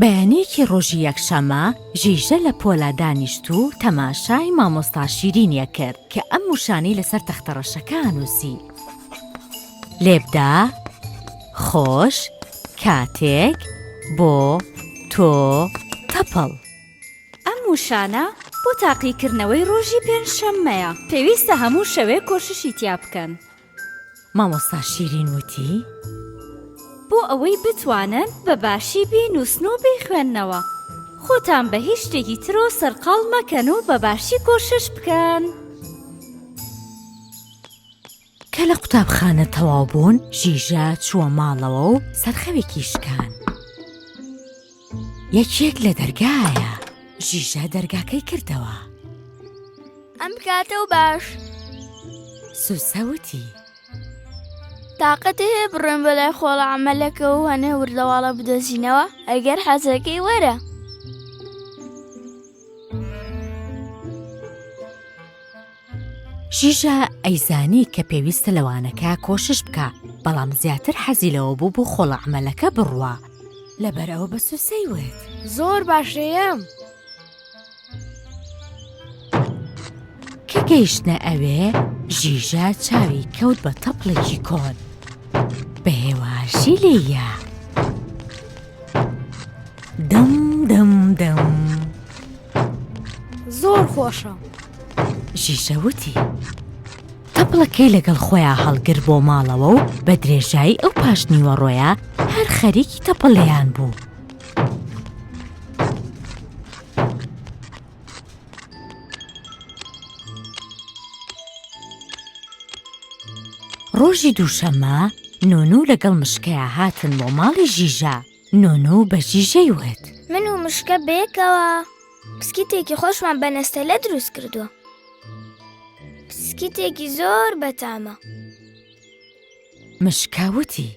بەیانیەکی ڕۆژی یەکشەمە ژیژە لە پۆلا دانیشت و تەماشای مامۆستا شیرینی ئەکرد کە ئەم وشانەی لەسەر تەختە ڕەشەکە ئەنووسی، لێبدە، خۆش، کاتێک، بۆ، تۆ، تەپڵ. ئەم وشانە بۆ تاقیکردنەوەی ڕۆژی پێنجشەممەیە پێویستە هەموو شەوێ کۆششی تیا بکەن مامۆستا شیرین وتی، بۆ ئەوەی بتوانن بە باشی بینووسن و بیخوێننەوە، خۆتان بە هیچ شتێکی ترەوە سەرقاڵ مەکەن و بە باشی کۆشش بکەن. کە لە قوتابخانە تەواو بوون، ژیژە چووە ماڵەوە و سەرخەوێکی شکان. یەکێک لە دەرگایە ژیژە دەرگاکەی کردەوە ئەم بکاتە و باش سوسەوتی تااقەتی هەیە بڕێن بەلای خۆڵە ئەمەلەکە و هەنێ وردەواڵە بدۆزینەوە ئەگەر حەزەکەی وەرە ژیژە ئەیزانی کە پێویستە لە وانەکە کۆشش بکا بەڵام زیاتر حەزی لەوە بوو بۆ خۆڵە عمەلەکە بڕوا لەبەر ئەوە بە سوسەی وت زۆر باشەیەم کە گەیشتە ئەوێ ژیژە چاوی کەوت بە تەپڵێکی کۆن بە هێواشی لێە دەم دەم دەم. زۆر خۆشە ژیژە وتی تەپڵەکەی لەگەڵ خۆیان هەڵگر بۆ ماڵەوە و بە درێژایی ئەو پاشنیوە ڕۆیە هەر خەریکی تەپەڵیان بوو ڕۆژی دووشەممە نۆنو لەگەڵ مشکەیە هاتن بۆ ماڵی ژیژە نۆنۆ و بەژیژەی وت. من و مشکە بەیەکەوە پسکیتێکی خۆشمان بە نەستەلە دروست کردووە. پسکیتێکی زۆر بەتامە. مشکە وتی.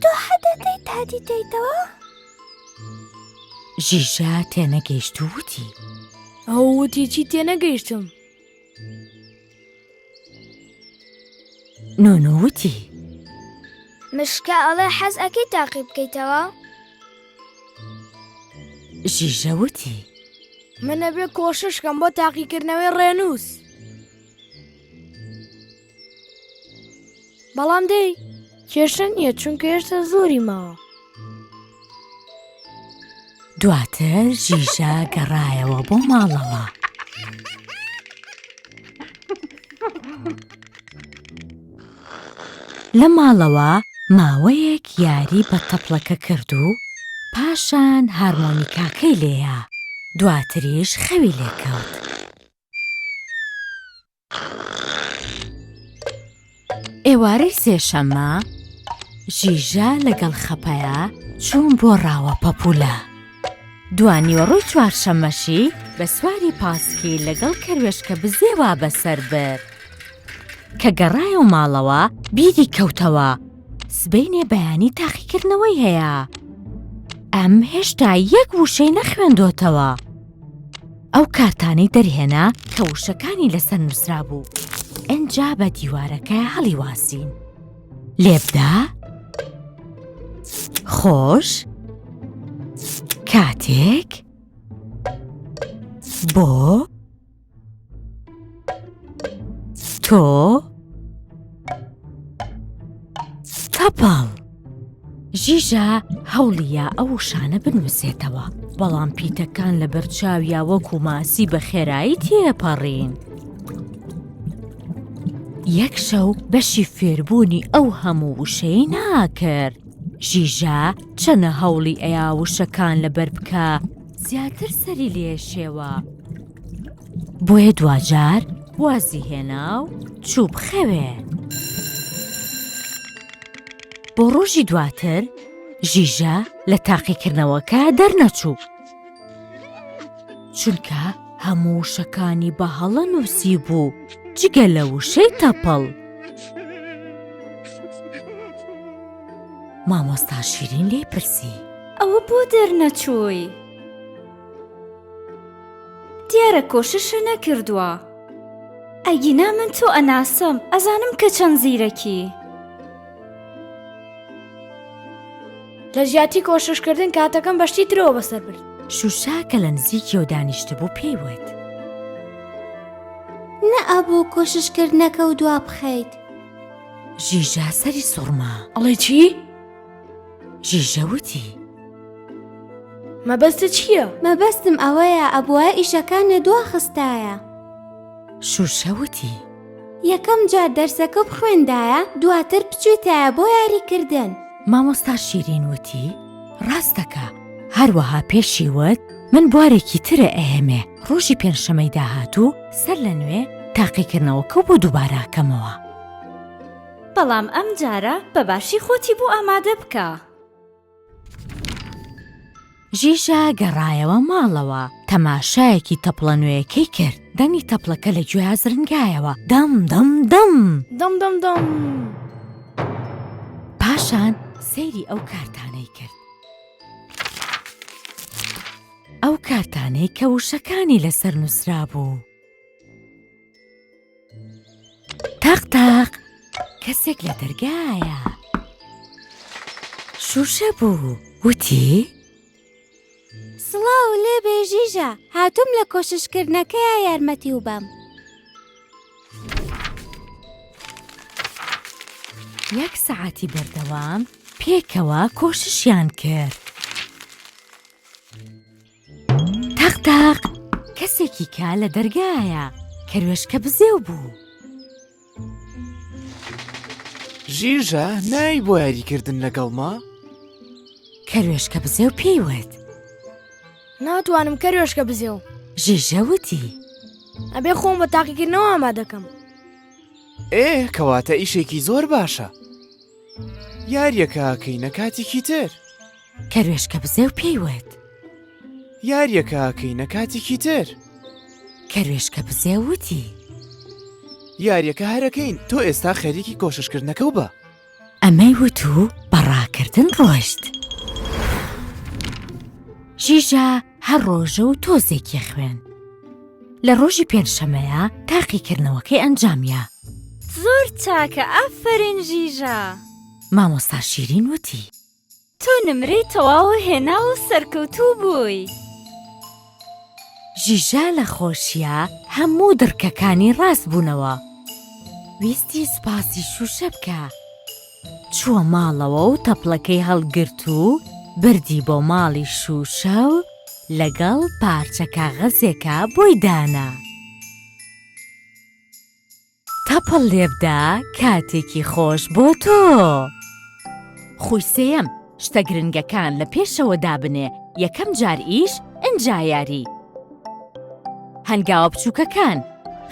تۆ حەدەتەی تادی دەیتەوە؟ ژیژە تێنەگەیشت و وتی. ئەو وتی چی تێنەگەیشتم. نۆنۆ وتی مشکە ئەڵێ حەز ئەەکەی تاقی بکەیتەوە؟ ژیژە وتی منە بێ کۆششکەم بۆ تاقیکردنەوەی ڕێنووس. بەڵام دەی کێشە نییە چونکە هێشتا زۆری ماوە دواتر ژیژە گەڕایەوە بۆ ماڵەوە. لە ماڵەوە ماوەیەک یاری بە تەپڵەکە کرد و پاشان هارمۆنیکاکەی لێە دواتریش خەوی لێکەوت. ئێوارەی سێشەممە ژیژە لەگەڵ خەپەیە چوون بۆ ڕاوە پەپولە دوانیوەڕۆی چوارشەمەشی بە سواری پاسکی لەگەڵ کەروێشکە بزێوا بەسەر برد کە گەڕایە و ماڵەوە بیری کەوتەوە سبینێ بەیانی تاقیکردنەوەی هەیە ئەم هێشتا یەک وشەی نەخوێندۆتەوە ئەو کارتانەی دەرهێنا کە وشەکانی لەسەر نووسرا بوو ئەجا بە دیوارەکە هەڵی واسین لێبدا خۆش کاتێک بۆ تۆ تەپاڵ ژیژە هەوڵیە ئەو شانە بنووسێتەوە بەڵام پیتەکان لە بەرچاویا وەکو ماسی بە خێرایی تێپەڕین یەک شەو بەشی فێربوونی ئەو هەموو وشەی ناکرد ژیژە چەنە هەوڵی ئەیا وشەکان لەبەر بکە زیاتر سەری لێشێوە بۆیە دواجار وازی هێنا و چوو بخەوێ بۆ ڕۆژی دواتر ژیژە لە تاقیکردنەوەکە دەرنەچوو چونکە هەموو شەکانی بە هەڵە نووسی بوو جگە لە وشەی تەپەڵ مامۆستا شیرین لێ پرسی ئەوە بۆ دەرنەچووی؟ دیارە کۆششە نەکردووە ئەگینا من تۆ ئەناسم ئەزانم کە چەند زیرەکی لە جیاتی کۆششکردن کاتەکەم بەشتی ترەوە بەسەر برد شوشا کە لە نزیکیەوە دانیشتبوو پێی وت نە ئەبوو کۆششکردنەکە و دوا بخەیت ژیژا سەری سوڕما ئەڵێ چی؟ ژیژە وتی مەبەستە چییە؟ مەبەستم ئەوەیە ئەبواە ئیشەکان لە دوا خستایە شوشە وتی یەکەم جار دەرسەکە بخوێندایە دواتر بچێتایە بۆ یاریکردن مامۆستا شیرین وتی ڕاستەکە هەروەها پێشی وت من بوارێکی ترە ئەهێمێ ڕۆژی پێنجشەمەی داهاتوو سەر لە نوێ تاقیکردنەوەکە بۆ دووباراکەمەوە بەڵام ئەم جارە بە باشی خۆتی بۆ ئامادە بکە. ژیژا گەڕایەوە ماڵەوە تەماشایەکی تەپڵە نوێیەکەی کرد دەنگی تەپڵەکە لە گوێیا زرنگایەوە دەم دەم دەم دەم دەم دەم پاشان سەیری ئەو کارتانەی کرد ئەو کارتانەی کە وشەکانی لەسەر نووسرا بوو. تاق تاق کەسێک لە دەرگایە شوشە بوو وتی سڵاو لێ بێژیژە هاتووم لە کۆششکردنەکەیە یارمەتی و بەم یەک سەعاتی بەردەوام پێکەوە کۆششیان کرد تەق تەق کەسێکی کە لە دەرگایە. کەروێشکە بزێو بوو. ژیژە نای بۆ یاریکردن لەگەڵما؟ کەروێشکە بزێو پێی وت. ناتوانم کەروێشکە بزێو. ژیژە وتی. ئەبێ خۆم بە تاقیکردنەوە ئاما دەکەم. ئێ کەواتە ئیشێکی زۆر باشە. یاریەکە کەینە کاتێکی تر. کەروێشکە بزێو پێی وت. یاریەکە ئاکەینە کاتێکی تر. کەروێشکە بزێو وتی. یاریەکە هەرەکەین تۆ ئێستا خەریکی کۆششکردنەکە و بە. ئەمەی وت و بەڕاکردن ڕۆشت. ژیژە هەر ڕۆژە و تۆزێکی خوێن. لە ڕۆژی پێنجشەمەیە تاقیکردنەوەکەی ئەنجامە. زۆر چاکە ئافرین ژیژە. مامۆستا شیرین وتی. تۆ نمرەی تەواوە هێناوە و سەرکەوتوو بووی. ژیژا لە خۆشیا هەموو دڕکەکانی ڕاست بوونەوە. ویستی سوپاسی شووشە بکا. چووە ماڵەوە و تەپڵەکەی هەڵگرت و بردی بۆ ماڵی شووشە و لەگەڵ پارچە کاغەزێکا بۆی دانا. تەپڵ لێبدە کاتێکی خۆش بۆ تۆ. خوی سێیەم شتە گرنگەکان لە پێشەوە دابنێ یەکەم جار ئیش ئنجا یاری. هەنگاوە بچوکەکان،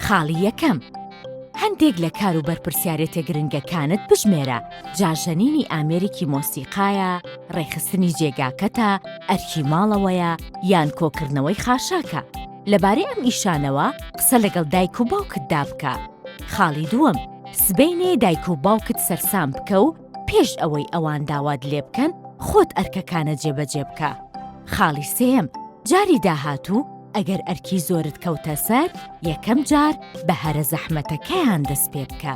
خاڵی یەکەم هەندێک لە کار و بەرپرسیارێتە گرنگەکانت بژمێرە جا ژەنینی ئامێرێکی مۆسیقایە، ڕێکخستنی جێگاکەتە، ئەرکی ماڵەوەیە یان کۆکردنەوەی خاشاکە. لەبارەی ئەم ئیشانەوە قسە لەگەڵ دایک و باوکتدا بکە. خاڵی دووەم، سبەینێ دایک و باوکت سەرسام بکە و پێش ئەوەی ئەوان داوات لێ بکەن خۆت ئەرکەکانە جێبەجێ بکە. خاڵی سێیەم، جاری داهاتوو ئەگەر ئەرکی زۆرت کەوتە سەر، یەکەم جار بە هەرە زەحمەتەکەیان دەست پێ بکە.